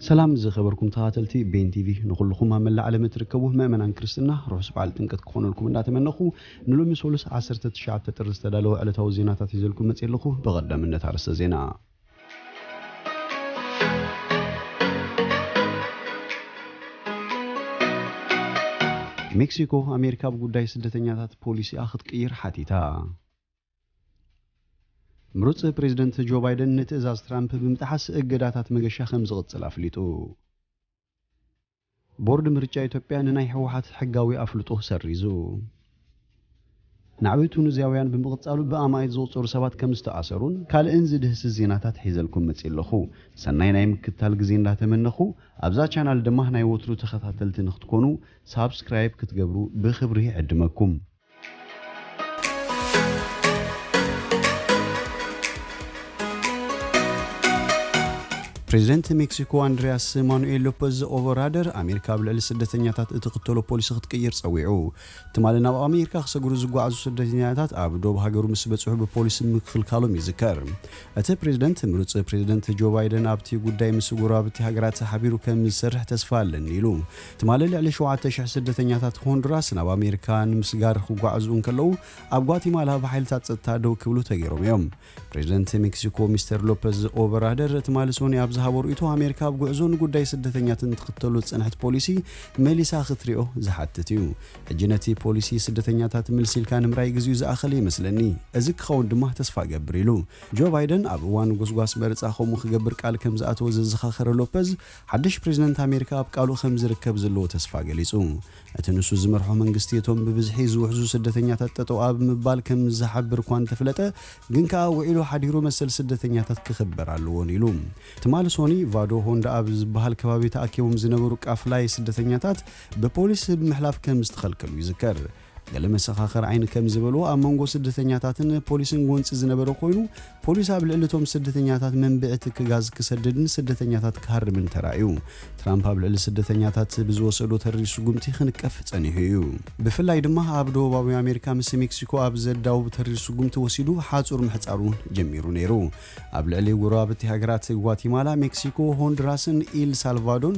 ሰላም ዝኸበርኩም ተኻተልቲ ቤን ቲቪ ንኹልኹም ኣብ መላእ ዓለም እትርከቡ ምእመናን ክርስትና ርሑስ በዓል ጥምቀት ክኾነልኩም እንዳተመነኹ ንሎሚ ሶሉስ 19 ጥሪ ዝተዳለወ ዕለታዊ ዜናታት ሒዘልኩም መጽየ ኣለኹ ብቐዳምነት ኣርእስተ ዜና ሜክሲኮ ኣሜሪካ ብጉዳይ ስደተኛታት ፖሊሲኣ ክትቅይር ሓቲታ ምሩጽ ፕሬዝደንት ጆ ባይደን ንትእዛዝ ትራምፕ ብምጥሓስ እገዳታት መገሻ ከምዝቕጽል ኣፍሊጡ። ቦርድ ምርጫ ኢትዮጵያ ንናይ ህወሓት ሕጋዊ ኣፍልጦ ሰሪዙ። ናዕቢ ቱኒዝያውያን ብምቕጻሉ ብኣማኢት ዝቑጸሩ ሰባት ከምዝተኣሰሩን ካልእን ዝድህስስ ዜናታት ሒዘልኩም መጺእ ኣለኹ። ሰናይ ናይ ምክትታል ግዜ እንዳተመነኹ ኣብዛ ቻናል ድማ ናይ ወትሩ ተኸታተልቲ ንኽትኮኑ ሳብስክራይብ ክትገብሩ ብኽብሪ ይዕድመኩም። ፕሬዚደንት ሜክሲኮ ኣንድሪያስ ማኑኤል ሎፐዝ ኦቨራደር ኣሜሪካ ኣብ ልዕሊ ስደተኛታት እትኽተሎ ፖሊሲ ክትቅይር ጸዊዑ ትማሊ ናብ ኣሜሪካ ክሰግሩ ዝጓዓዙ ስደተኛታት ኣብ ዶብ ሃገሩ ምስ በጽሑ ብፖሊሲ ምክልካሎም ይዝከር እቲ ፕሬዚደንት ምሩጽ ፕሬዚደንት ጆ ባይደን ኣብቲ ጉዳይ ምስ ጎረባብቲ ሃገራት ሓቢሩ ከም ዝሰርሕ ተስፋ ኣለኒ ኢሉ ትማሊ ልዕሊ ሸውዓተ ሽሕ ስደተኛታት ሆንዱራስ ናብ ኣሜሪካ ንምስጋር ክጓዓዙ እንከለዉ ኣብ ጓቲማላ ብሓይልታት ጸጥታ ደው ክብሉ ተገይሮም እዮም። ፕሬዝደንት ሜክሲኮ ሚስተር ሎፐዝ ኦበራደር ትማሊ ሶኒ ኣብ ዝሃቦ ርእይቶ ኣሜሪካ ኣብ ጉዕዞ ንጉዳይ ስደተኛትን ትኽተሎ ዝጸንሐት ፖሊሲ መሊሳ ክትሪኦ ዝሓትት እዩ። ሕጂ ነቲ ፖሊሲ ስደተኛታት ምልስ ኢልካ ንምርኣይ ግዜኡ ዝኣኸለ ይመስለኒ። እዚ ክኸውን ድማ ተስፋ እገብር ኢሉ። ጆ ባይደን ኣብ እዋን ጎስጓስ መረጻ ከምኡ ክገብር ቃል ከምዝኣተወ ዘዘኻኸረ ሎፐዝ ሓድሽ ፕሬዝደንት ኣሜሪካ ኣብ ቃሉ ከምዝርከብ ዘለዎ ተስፋ ገሊጹ። እቲ ንሱ ዝመርሖ መንግስቲ እቶም ብብዝሒ ዝውሕዙ ስደተኛታት ጠጠው ኣብ ምባል ከምዝሓብር እኳ እንተፍለጠ ግን ከኣ ውዒሉ ሓዲሩ መሰል ስደተኛታት ክኽበር ኣለዎን ኢሉ። ትማሊ ሶኒ ቫዶ ሆንዳ ኣብ ዝበሃል ከባቢ ተኣኪቦም ዝነበሩ ቃፍላይ ስደተኛታት ብፖሊስ ብምሕላፍ ከምዝተኸልከሉ ይዝከር። ገለ መሰኻኽር ዓይኒ ከም ዝበልዎ ኣብ መንጎ ስደተኛታትን ፖሊስን ጎንጺ ዝነበረ ኮይኑ፣ ፖሊስ ኣብ ልዕሊ እቶም ስደተኛታት መንብዒ ትኪ ጋዝ ክሰድድን ስደተኛታት ክሃርምን ተራእዩ። ትራምፕ ኣብ ልዕሊ ስደተኛታት ብዝወሰዶ ተሪር ስጉምቲ ክንቀፍ ጸኒሑ እዩ። ብፍላይ ድማ ኣብ ደቡባዊ ኣሜሪካ ምስ ሜክሲኮ ኣብ ዘዳውብ ተሪር ስጉምቲ ወሲዱ ሓጹር ምሕጻሩ ጀሚሩ ነይሩ። ኣብ ልዕሊ ጎረባብቲ ሃገራት ጓቲማላ፣ ሜክሲኮ፣ ሆንድራስን ኢል ሳልቫዶን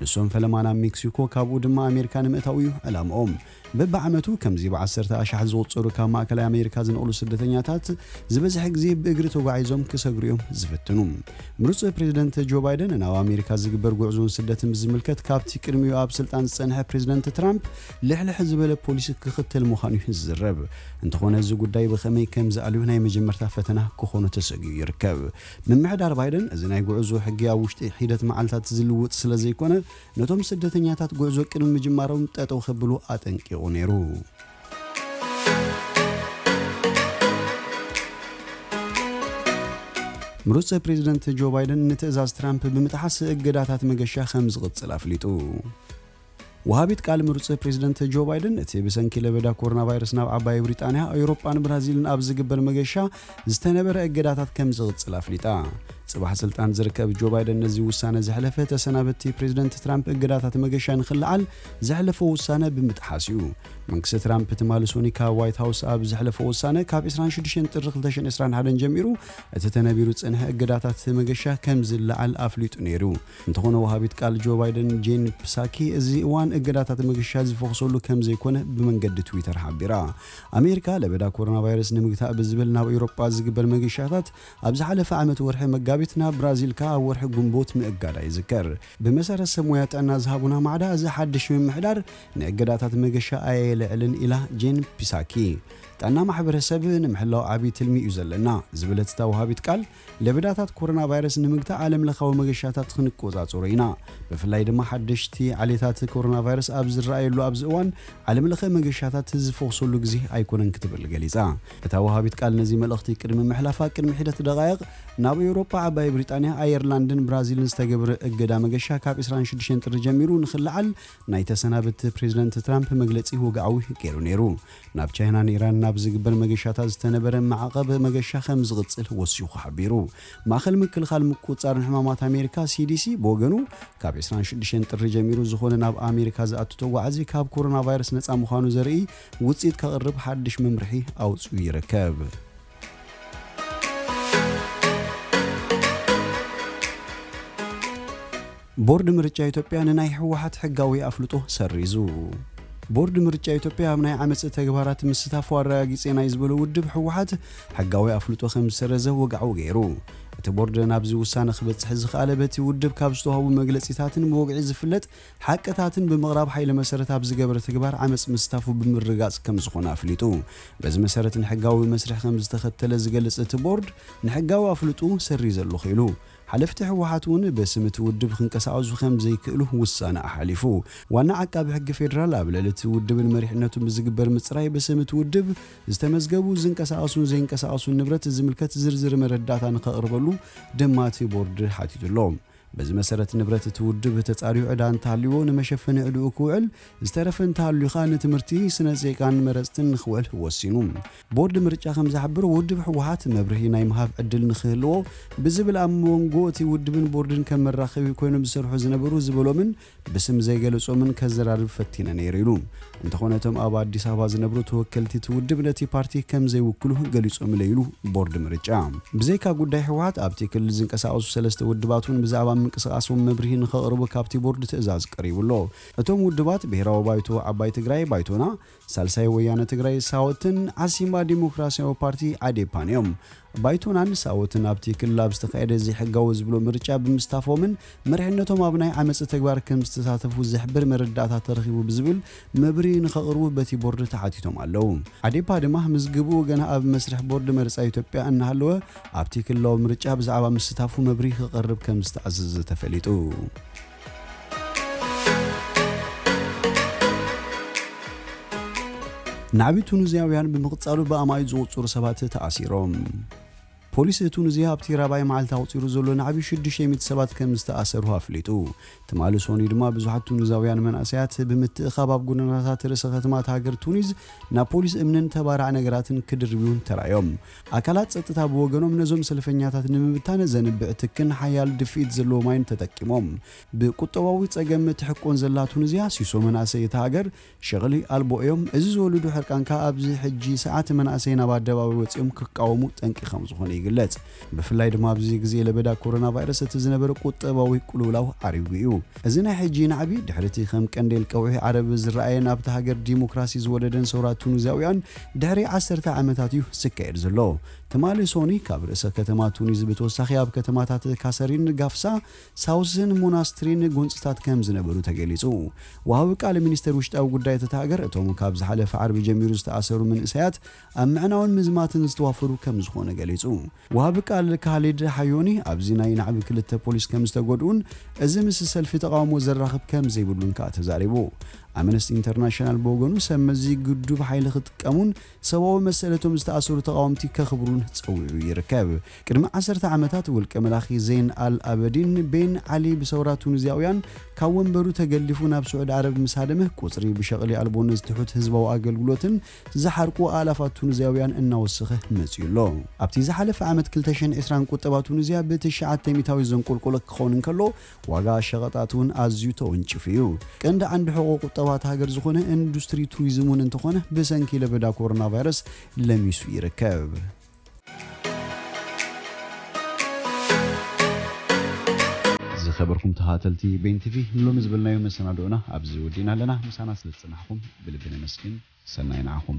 ንሶም ፈለማ ናብ ሜክሲኮ ካብኡ ድማ ኣሜሪካ ንምእታው እዩ ዕላምኦም። በብዓመቱ ከምዚ ብዓሰርተ ኣሻሕ ዝቑጸሩ ካብ ማእከላይ ኣሜሪካ ዝነቕሉ ስደተኛታት ዝበዝሐ ግዜ ብእግሪ ተጓዒዞም ክሰግሩ እዮም ዝፍትኑ። ምሩጽ ፕሬዝደንት ጆ ባይደን ናብ ኣሜሪካ ዝግበር ጉዕዞን ስደትን ብዝምልከት ካብቲ ቅድሚኡ ኣብ ስልጣን ዝጸንሐ ፕሬዝደንት ትራምፕ ልሕልሕ ዝበለ ፖሊሲ ክኽተል ምዃኑ እዩ ዝዝረብ። እንተኾነ እዚ ጉዳይ ብኸመይ ከምዝኣልዮ ናይ መጀመርታ ፈተና ክኾኖ ተሰግዩ ይርከብ። ምምሕዳር ባይደን፣ እዚ ናይ ጉዕዞ ሕጊ ኣብ ውሽጢ ሒደት መዓልታት ዝልውጥ ስለ ዘይኮነ፣ ነቶም ስደተኛታት ጉዕዞ ቅድሚ ምጅማሮም ጠጠው ከብሉ ኣጠንቂቑ ነይሩ። ምሩጽ ፕሬዝደንት ጆ ባይደን ንትእዛዝ ትራምፕ ብምጥሓስ እገዳታት መገሻ ከም ዝቕጽል ኣፍሊጡ። ወሃቢት ቃል ምሩጽ ፕሬዝደንት ጆ ባይደን እቲ ብሰንኪ ለበዳ ኮሮናቫይረስ ናብ ዓባይ ብሪጣንያ፣ ኣዩሮጳን ብራዚልን ኣብ ዝግበር መገሻ ዝተነበረ እገዳታት ከም ዝቕጽል ኣፍሊጣ። ጽባሕ ስልጣን ዝርከብ ጆ ባይደን ነዚ ውሳነ ዘሕለፈ ተሰናበቲ ፕሬዝደንት ትራምፕ እገዳታት መገሻ ንኽልዓል ዘሕለፎ ውሳነ ብምጥሓስ እዩ። መንግስቲ ትራምፕ ትማሊ ሶኒ ካብ ዋይት ሃውስ ኣብ ዘሕለፎ ውሳነ ካብ 26 ጥሪ 2021 ጀሚሩ እቲ ተነቢሩ ዝጸንሐ እገዳታት መገሻ ከም ዝለዓል ኣፍሊጡ ነይሩ። እንተኾነ ወሃቢት ቃል ጆ ባይደን ጄን ፕሳኪ እዚ እዋን እገዳታት ምግሻ ዝፈኹሰሉ ከም ዘይኮነ ብመንገዲ ትዊተር ሓቢራ። ኣሜሪካ ለበዳ ኮሮናቫይረስ ንምግታእ ብዝብል ናብ ኤውሮጳ ዝግበር መግሻታት ኣብ ዝሓለፈ ዓመት ወርሒ መጋቢት ናብ ብራዚል ከኣ ኣብ ወርሒ ግንቦት ምእጋዳ ይዝከር። ብመሰረት ሰብ ሞያ ጥዕና ዝሃቡና ማዕዳ እዚ ሓድሽ ምምሕዳር ንእገዳታት መገሻ ኣየልዕልን ኢላ ጄን ፒሳኪ። ጥዕና ማሕበረሰብ ንምሕላው ዓብዪ ትልሚ እዩ ዘለና ዝበለት እታ ወሃቢት ቃል ለበዳታት ኮሮናቫይረስ ንምግታእ ዓለምለኻዊ መገሻታት ክንቆጻጸሮ ኢና። ብፍላይ ድማ ሓደሽቲ ዓሌታት ኮሮናቫይረስ ኣብ ዝረኣየሉ ኣብዚ እዋን ዓለምለኸ መገሻታት ዝፎኽሰሉ ግዜ ኣይኮነን ክትብል ገሊጻ። እታ ወሃቢት ቃል ነዚ መልእኽቲ ቅድሚ ምሕላፋ ቅድሚ ሒደት ደቓይቕ ናብ ኤውሮጳ፣ ዓባይ ብሪጣንያ፣ ኣየርላንድን ብራዚልን ዝተገብረ እገዳ መገሻ ካብ ዕስራን ሽዱሽተን ጥሪ ጀሚሩ ንኽለዓል ናይ ተሰናበቲ ፕሬዝደንት ትራምፕ መግለጺ ወግዓዊ ገይሩ ነይሩ። ናብ ቻይናን ኢራንን ኣብ ዝግበር መገሻታት ዝተነበረ ማዕቐብ መገሻ ከም ዝቕጽል ወሲኹ ሓቢሩ። ማእኸል ምክልኻል ምቁጽጻርን ሕማማት ኣሜሪካ፣ CDC፣ ብወገኑ፣ ካብ ዕስራን ሽዱሽተን ጥሪ ጀሚሩ ዝኾነ ናብ ኣሜሪካ ዝኣቱ ተጓዓዚ ካብ ኮሮናቫይረስ ነጻ ምዃኑ ዘርእይ ውጽኢት ከቕርብ ሓድሽ መምርሒ ኣውጺኡ ይርከብ። ቦርድ ምርጫ ኢትዮጵያ ንናይ ህወሓት ሕጋዊ ኣፍልጦ ሰሪዙ። ቦርድ ምርጫ ኢትዮጵያ ኣብ ናይ ዓመጽ ተግባራት ምስታፉ ኣረጋጊጼ ናይ ዝበሎ ውድብ ህወሓት ሕጋዊ ኣፍልጦ ከም ዝሰረዘ ወግዓዊ ገይሩ። እቲ ቦርድ ናብዚ ውሳነ ክበጽሕ ዝኸኣለ በቲ ውድብ ካብ ዝተዋህቡ መግለጺታትን ብወግዒ ዝፍለጥ ሓቅታትን ብምቕራብ ሓይሊ መሰረት ኣብ ዝገበረ ተግባር ዓመጽ ምስታፉ ብምርግጋጽ ከም ዝኾነ ኣፍሊጡ። በዚ መሰረት ንሕጋዊ መስርሕ ከም ዝተኸተለ ዝገልጽ እቲ ቦርድ ንሕጋዊ ኣፍልጥኡ ሰሪዘ ኣለኹ ኢሉ። ሓለፍቲ ህወሓት እውን ብስም እቲ ውድብ ክንቀሳቐሱ ከም ዘይክእሉ ውሳነ ኣሓሊፉ። ዋና ዓቃቢ ሕጊ ፌዴራል ኣብ ልዕሊ እቲ ውድብን መሪሕነቱን ብዝግበር ምፅራይ ብስም እቲ ውድብ ዝተመዝገቡ ዝንቀሳቐሱን ዘይንቀሳቐሱን ንብረት ዝምልከት ዝርዝር መረዳእታ ንከቕርበሉ ድማ እቲ ቦርድ ሓቲቱ ኣሎ። በዚ መሰረት ንብረት እቲ ውድብ ተፃርዩ ዕዳ እንተሃልዩዎ ንመሸፈኒ ዕድኡ ክውዕል፣ ዝተረፈ እንተሃልዩ ከዓ ንትምህርቲ፣ ስነ ዜጋን መረፅትን ንክውዕል ወሲኑ። ቦርድ ምርጫ ከም ዝሕብሮ፣ ውድብ ህወሓት መብርሂ ናይ ምሃብ ዕድል ንክህልዎ ብዝብል ኣብ ሞንጎ እቲ ውድብን ቦርድን ከም መራኸቢ ኮይኖም ዝሰርሑ ዝነበሩ ዝበሎምን ብስም ዘይገለፆምን ከዘራርብ ፈቲነ ነይረ ኢሉ። እንተኾነ እቶም ኣብ ኣዲስ ኣበባ ዝነብሩ ተወከልቲ እቲ ውድብ ነቲ ፓርቲ ከም ዘይውክሉ ገሊፆምለይ ኢሉ ቦርድ ምርጫ። ብዘይካ ጉዳይ ህወሓት ኣብቲ ክልል ዝንቀሳቐሱ ሰለስተ ውድባት እውን ብዛዕባ ምንቅስቓሶም መብርሂ ንከቕርቡ ካብቲ ቦርድ ትእዛዝ ቀሪቡ ኣሎ። እቶም ውድባት ብሄራዊ ባይቶ፣ ዓባይ ትግራይ፣ ባይቶና፣ ሳልሳይ ወያነ ትግራይ ሳወትን ዓሲምባ ዴሞክራሲያዊ ፓርቲ ዓዴፓን እዮም። ባይቶናን ሳወትን ኣብቲ ክልል ኣብ ዝተኻየደ ዘይሕጋዊ ዝብሎ ምርጫ ብምስታፎምን መሪሕነቶም ኣብ ናይ ዓመጽ ተግባር ከምዝተሳተፉ ዝሕብር መረዳእታ ተረኺቡ ብዝብል መብርሂ ንኸቕርቡ በቲ ቦርድ ተሓቲቶም ኣለው። ዓዴፓ ድማ ምዝግብኡ ገና ኣብ መስርሕ ቦርድ መርጻ ኢትዮጵያ እናሃለወ ኣብቲ ክልላዊ ምርጫ ብዛዕባ ምስታፉ መብርሂ ክቐርብ ከምዝተኣዘዘ ተፈሊጡ። ናዕቢ ቱኒዝያውያን ብምቕጻሉ ብኣማኢት ዝቑጸሩ ሰባት ተኣሲሮም። ፖሊስ ቱኒዝያ ኣብቲ ራብዓይ መዓልቲ ኣቑጺሩ ዘሎ ናዕቢ 600 ሰባት ከም ዝተኣሰርሁ ኣፍሊጡ። ትማሊ ሰኑይ ድማ ብዙሓት ቱኒዛውያን መንእሰያት ብምትእኻብ ኣብ ጎደናታት ርእሰ ከተማ እታ ሃገር ቱኒዝ ናብ ፖሊስ እምንን ተባራዕ ነገራትን ክድርብዩን ተራእዮም። ኣካላት ጸጥታ ብወገኖም ነዞም ሰልፈኛታት ንምብታን ዘንብዕ ትክን ሓያል ድፍኢት ዘለዎ ማይን ተጠቂሞም። ብቁጠባዊ ጸገም እትሕቆን ዘላ ቱኒዝያ፣ ሲሶ መናእሰይ እታ ሃገር ሸቕሊ ኣልቦ እዮም። እዚ ዝወልዱ ሕርቃን ከኣ ኣብዚ ሕጂ ሰዓት መናእሰይ ናብ ኣደባባይ ወጺኦም ክቃወሙ ጠንቂ ከምዝኾነ ይግለጽ። ብፍላይ ድማ ኣብዚ ግዜ ለበዳ ኮሮናቫይረስ እቲ ዝነበረ ቁጠባዊ ቅልውላው ዓሪጉ እዩ። እዚ ናይ ሕጂ ናዕቢ ድሕሪ'ቲ ከም ቀንዴል ቀውዒ ዓረብ ዝረኣየን ኣብታ ሃገር ዲሞክራሲ ዝወለደን ሰውራ ቱኒዝያውያን ድሕሪ ዓሰርተ ዓመታት እዩ ዝካየድ ዘሎ። ትማሊ ሶኑይ ካብ ርእሰ ከተማ ቱኒዝ ብተወሳኺ ኣብ ከተማታት ካሰሪን፣ ጋፍሳ፣ ሳውስን ሞናስትሪን ጎንፅታት ከምዝነበሩ ተገሊፁ። ወሃቢ ቃል ሚኒስቴር ውሽጣዊ ጉዳያት እታ ሃገር እቶም ካብ ዝሓለፈ ዓርቢ ጀሚሩ ዝተኣሰሩ መንእሰያት ኣብ ምዕናውን ምዝማትን ዝተዋፈሩ ከምዝኾኑ ገሊፁ። ወሃቢ ቃል ካሊድ ሓዮኒ ኣብዚ ናይ ናዕቢ ክልተ ፖሊስ ከም ዝተጎድኡን እዚ ምስ ሰልፊ ተቓውሞ ዘራኽብ ከም ዘይብሉን ከኣ ተዛሪቡ። ኣመነስቲ ኢንተርናሽናል ብወገኑ ሰብ መዚ ግዱብ ሓይሊ ክጥቀሙን ሰብኣዊ መሰል እቶም ዝተኣሰሩ ተቓወምቲ ከኽብሩን ጸዊዑ ይርከብ። ቅድሚ ዓሰርተ ዓመታት ውልቀ መላኺ ዜን ኣል ኣበዲን ቤን ዓሊ ብሰውራ ቱኒዝያውያን ካብ ወንበሩ ተገሊፉ ናብ ስዑድ ዓረብ ምስ ሃደመ ቁጽሪ ብሸቕሊ ኣልቦነት ትሑት ህዝባዊ ኣገልግሎትን ዝሓርቁ ኣእላፋት ቱኒዝያውያን እናወሰኸ መጺኡ ኣሎ። ኣብቲ ዝሓለፈ ዓመት ክልተ ሽሕን ዕስራን ቁጠባ ቱኒዝያ ብትሽዓተ ሚታዊት ዘንቆልቆለ ክኸውን እንከሎ፣ ዋጋ ሸቐጣት'ውን ኣዝዩ ተወንጪፉ እዩ። ቀንዲ ዓንዲ ሕቖ ቁጠባ እታ ሃገር ዝኾነ እንዱስትሪ ቱሪዝም'ውን እንተኾነ ብሰንኪ ለበዳ ኮሮናቫይረስ ለሚሱ ይርከብ። ዝከበርኩም ተከታተልቲ ቤን ቲቪ ንሎሚ ዝበልናዮ መሰናድኦና ኣብዚ ወዲእና ኣለና ምሳና ስለ ዝጸናሕኩም ብልቢ ነመስግን ሰናይ ንዓኹም።